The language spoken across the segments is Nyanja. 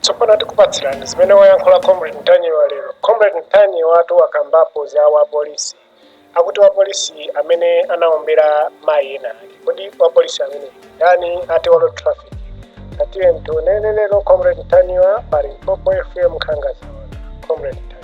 tsopano tikupatsirani zimene wayankhula comrade mtanyiwa lero comrade mtanyiwa ati wakambapo za wapolisi akuti wapolisi amene anaombera mayi ena ake kodi wapolisi ameneyi ndani ati wa road traffic tatiyeni timuonere lero comrade mtanyiwa pa limpopo fm nkhanga zaona comrade mtanyiwa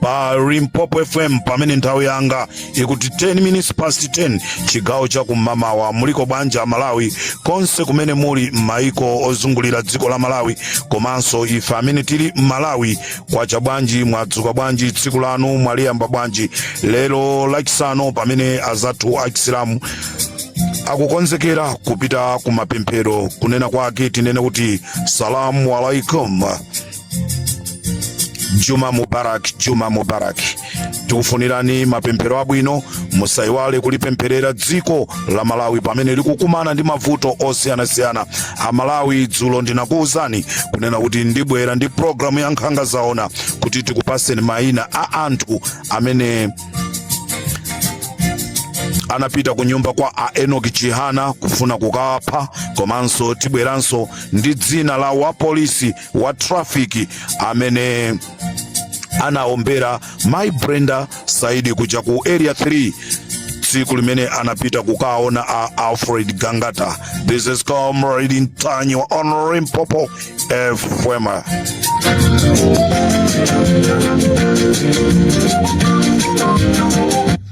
pa limpopo fm pamene nthawi yanga ikuti 10 minutes past 10 chigawo cha kum'mamawa muliko bwanji a malawi konse kumene muli maiko ozungulira dziko la malawi komanso ife amene tili m'malawi kwacha bwanji mwadzuka bwanji tsiku lanu mwaliyamba bwanji lero lachisanu pamene azathu achisilamu akukonzekera kupita ku mapemphero kunena kwake tinene kuti salamu alaikum juma mubarak juma mubarak tikufunirani mapemphero abwino musaiwale kulipempherera dziko la malawi pamene likukumana ndi mavuto osiyanasiyana amalawi dzulo ndinakuwuzani kunena kuti ndibwera ndi programu ya nkhanga zaona kuti tikupaseni mayina a anthu amene anapita ku nyumba kwa a enoki chihana kufuna kukapha komanso tibweranso ndi dzina la wapolisi wa traffic amene anaombera mayi brenda saidi kuja ku area 3 tsiku limene anapita kukaona a alfred gangata this is comrade mtanyiwa on limpopo fm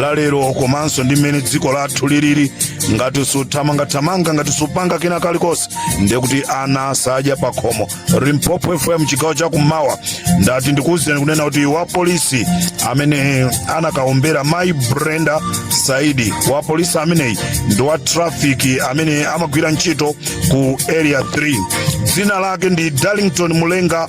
la lero komanso ndi mmene dziko lathu lilili ngati suthamangathamanga ngati supanga kena kalikonse ndiye kuti ana sadya pakhomo limpopo fm chigawo chakummawa ndati ndikuwuzireni kunena kuti wapolisi amene anakaombera mayi brenda saidi wapolisi ameneyi ndi wa trafiki amene amagwira ntchito ku area 3 dzina lake ndi darlington mulenga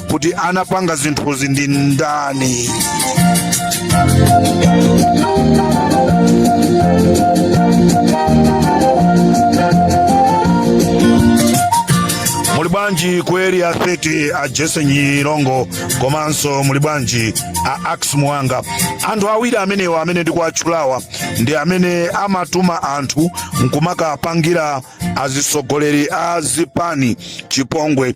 kuti anapanga zinthuzi ndi ndani muli bwanji ku area 30 a jese nyirongo komanso muli bwanji a ackis muwanga anthu awiri amenewa amene ndikuwatchulawa ndi amene amatuma anthu nkumakapangira azitsogoleri a zipani chipongwe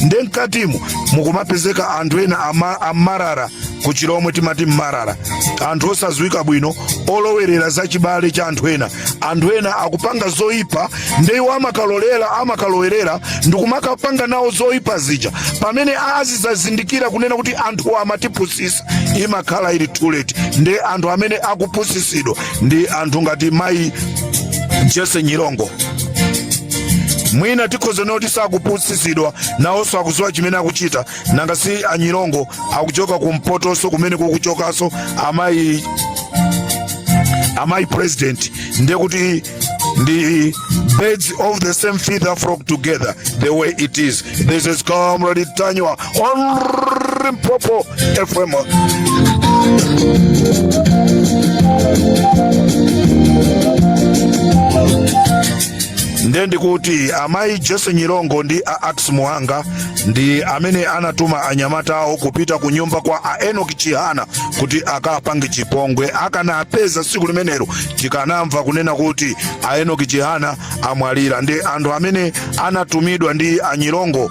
nde mkatimo mukumapezeka anthu ena amalala kuchilomwe timati mmalala anthu osadziwika bwino olowerera za chiwale cha anthu ena anthu ena akupanga zoyipa nde iwo amakalolera amakalowerera ndikumakapanga nawo zoyipa zija pamene azidzazindikira kunena kuti anthu amatipusisa imakhala ili too late nde anthu amene akupusisidwa ndi anthu ngati mayi jese nyirongo mwina tikhoza noti sakupusitsidwa nawonso akudziwa chimene akuchita nanga si anyirongo akuchoka kumpotonso kumene kukuchokanso amayi amayi president ndiye kuti ndi birds of the same feather flock together the way it is this is comrade ntanyiwa on Limpopo FM. nde ndikuti amayi jese nyirongo ndi a akis muhanga ndi amene anatuma anyamata awo kupita ku nyumba kwa a enoki chihana kuti akapange chipongwe akanapeza tsiku limenelo tikanamva kunena kuti a enoki chihana amwalira ndi anthu amene anatumidwa ndi anyirongo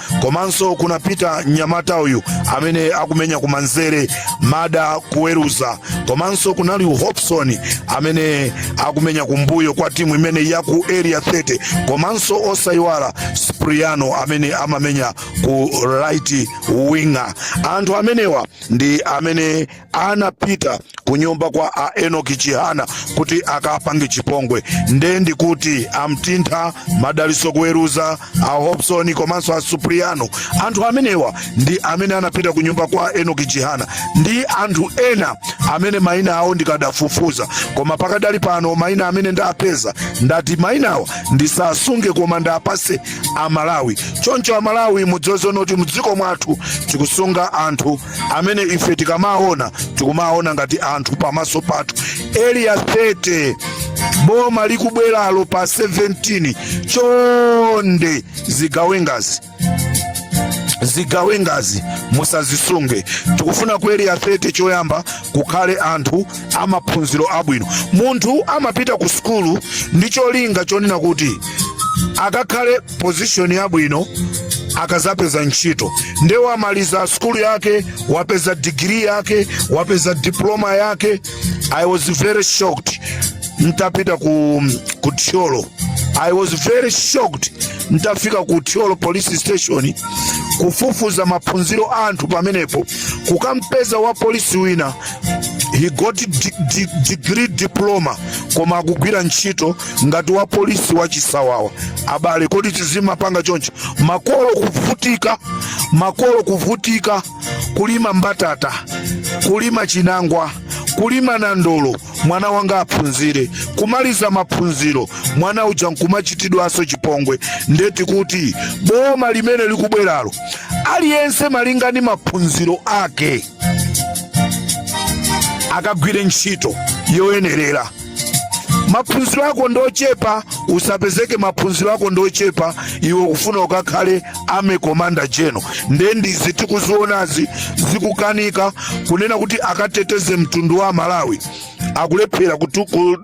komanso kunapita mnyamata uyu amene akumenya kumanzere mada kuweruza komanso kunali hopson amene akumenya kumbuyo kwa timu imeneyi ya ku area 30 komanso osayiwala spriano amene amamenya ku right winger anthu amenewa ndi amene anapita ku nyumba kwa a enoki chihana kuti akapange chipongwe nde ndikuti amtintha madaliso kuweruza a hopson komanso a supriano anthu amenewa ndi amene anapita ku nyumba kwa enoki chihana ndi anthu ena amene maina awo ndikadafufuza koma pakadali pano maina amene ndapeza ndati mainawa ndisasunge koma ndiwapatse amalawi choncho amalawi mudziwe zonoti mdziko mwathu tikusunga anthu amene ife tikamawaona tikumawaona ngati anthu pamaso pathu eliya 30 boma likubweralo pa 17 chonde zigawengazi zigawengazi musazisunge tikufuna ku eliya 30 choyamba kukhale anthu amaphunziro abwino munthu amapita ku sukulu ndi cholinga chonena kuti akakhale pozishoni yabwino akazapeza ntchito nde wamaliza sukulu yake wapeza digiri yake wapeza diploma yake i was very shocked ntapita ku, ku thyolo i was very shocked ntafika ku thyolo police station kufufuza maphunziro a anthu pamenepo kukampeza wa polisi wina he's got di- di- degree diploma koma akugwira ntchito ngati wa polisi wa chisawawa abale kodi tizimapanga choncho makolo kuvutika makolo kuvutika kulima mbatata kulima chinangwa kulima nandolo mwana wanga aphunzire kumaliza maphunziro mwana uja nkumachitidwanso chipongwe nde tikuti boma limene likubweralo aliyense malinga ndi maphunziro ake akagwire ntchito yoyenerera maphunziro ako ndochepa usapezeke maphunziro ako ndochepa iwe kufuna ukakhale army commander general nde ndizi tikuzionazi zikukanika kunena kuti akateteze mtundu wa malawi akulephera kutu- ku-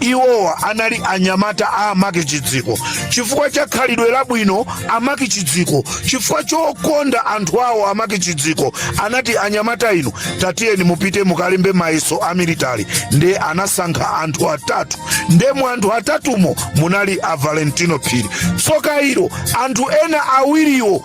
iwowa anali anyamata a a Mark Chiziko chifukwa cha khalidwe labwino a Mark Chiziko chifukwa chokonda anthu awo a Mark Chiziko anati anyamata inu tatiyeni mupite mukalembe mayeso a military nde anasankha anthu atatu nde mu anthu atatumo munali a valentino phiri tsoka ilo anthu ena awiriwo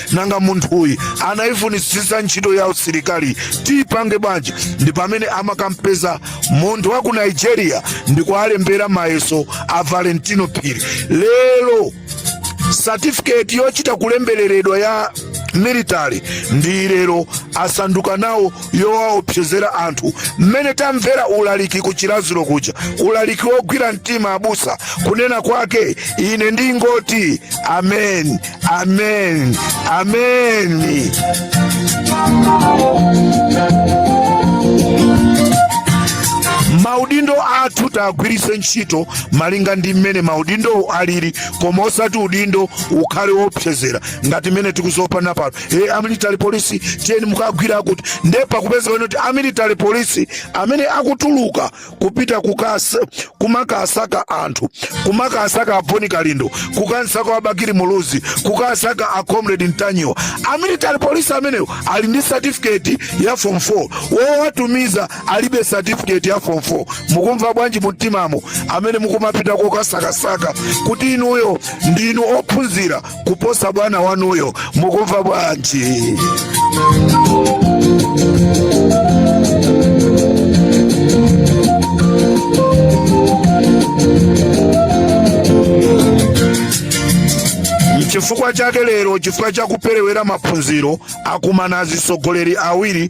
nanga munthuyu anaifunitsitsa ntchito ya usilikali tiipange bwanji ndi pamene amakampeza munthu wa ku nigeria ndikualembera mayeso a valentino phiri lero satifiketi yochita kulembereredwa ya military ndiye lero asanduka nawo yowaopsezera anthu mmene tamvera ulaliki ku chiradzulu kuja ulaliki wogwira mtima abusa kunena kwake ine ndingoti amen Amen. Amen. maudindo athu tagwiritse ntchito malinga ndi mmene maudindowo alili koma osati udindo ukhale wopsezera ngati mmene tikuzopana pano e amilitary police tiyeni mukagwire akuti nde pakupezeka kuti amilitary police amene akutuluka kupita kukasa kumakasaka anthu kumakasaka aboni kalindo kukamsaka abakili muluzi kukasaka a comrade mtanyiwa a military police amenewo ali ndi certificate ya form 4 wowatumiza alibe certificate ya form 4 mukumva bwanji mumtimamo amene mukumapita kokasakasaka kuti inuyo ndinu ophunzira kuposa bwana wanuyo mukumva bwanji nchifukwa chake lero chifukwa cha kuperewera maphunziro akumana azisogoleri awiri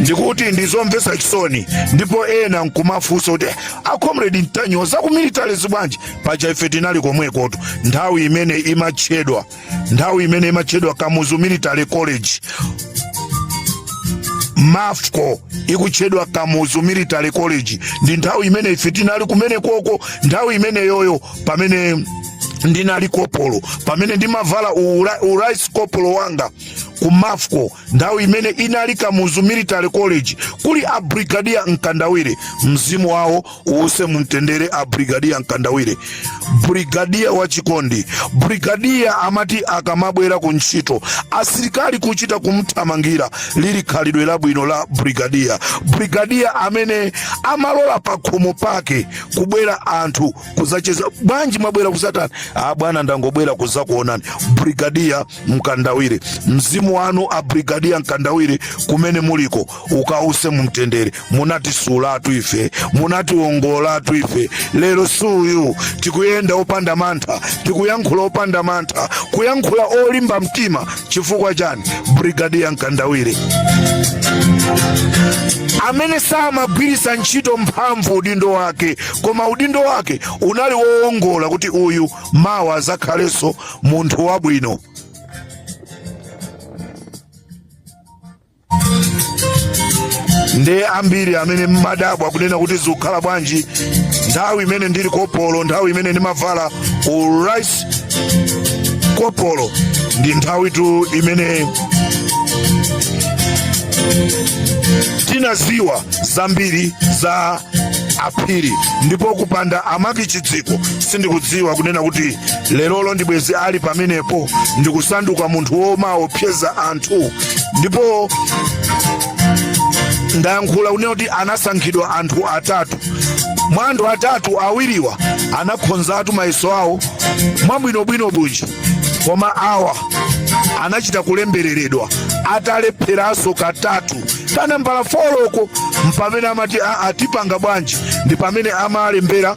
ndikuti ndizomvetsa chisoni ndipo ena nkumafunsa kuti acomrade mtanyiwa za ku military zi bwanji paja ife tinali komwekotu nthawi imene imatchedwa nthawi imene imatchedwa kamuzu military college mafco ikutchedwa kamuzu military college ndi nthawi imene ife tinali kumene koko nthawi imeneyoyo pamene ndinali kopolo pamene ndimavala u-RSM kopolo wanga ku mafco nthawi imene inali kamuzu military college kuli a brigadier mkandawire mzimu wawo uuse mumtendere a brigadier mkandawire brigadier wachikondi brigadier amati akamabwera ku ntchito asilikali kuchita kumthamangira lili khalidwe labwino la brigadier brigadier amene amalola pakhomo pake kubwera anthu kuzacheza bwanji mwabwera kusatani a bwana ndangobwera kuzakuonani brigadier mkandawire mzimu wanu a brigadier mkandawire kumene muliko ukause mumtendere munatisulatu ife munatiwongolatu ife lero suyu tikuyenda opanda mantha tikuyankhula opanda mantha kuyankhula olimba mtima chifukwa chani brigadier mkandawire amene samagwiritsa ntchito mphamvu udindo wake koma udindo wake unali woongola kuti uyu mawa azakhalenso munthu wabwino ndi ambiri amene mmadabwa kunena kuti zikukhala bwanji nthawi imene ndili kopolo nthawi imene ndimavala u lance kopolo ndi nthawitu imene tinaziwa zambiri za aphiri ndipo kupanda a MacPhee Chidziko sindikudziwa kunena kuti lerolo ndibwezi ali pamenepo ndikusanduka munthu womaopseza anthu ndipo ndayankhula kunena kuti anasankhidwa anthu atatu mwa anthu atatu awiriwa anakhonzatu mayeso awo mwabwinobwino bwino koma awa anachita kulembereredwa atalepheranso katatu kanambala folo ko mpamene amati aa tipanga bwanji ndi pamene amalembera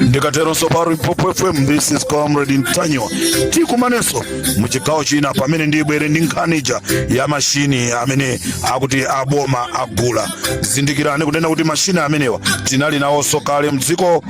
ndikateronso pa limpopo fm this is comrade ntanyiwa tikumanenso mu chigawo china pamene ndibwere ndi nkhani ija ya mashini amene akuti aboma agula zindikirani kunena kuti mashini amenewa tinali nawonso kale mdziko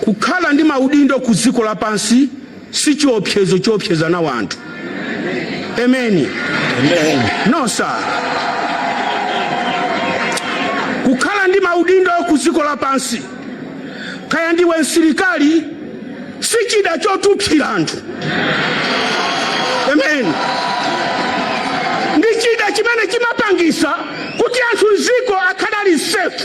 Kukhala ndi maudindo ku dziko lapansi si chiopsezo choopseza nawo anthu. Ameni. No sir. Kukhala ndi maudindo ku dziko lapansi, kaya ndiwe msilikali, si chida chotupsira anthu. Ameni. Ndi chida chimene chimapangisa kuti anthu m'dziko akhale ali safe.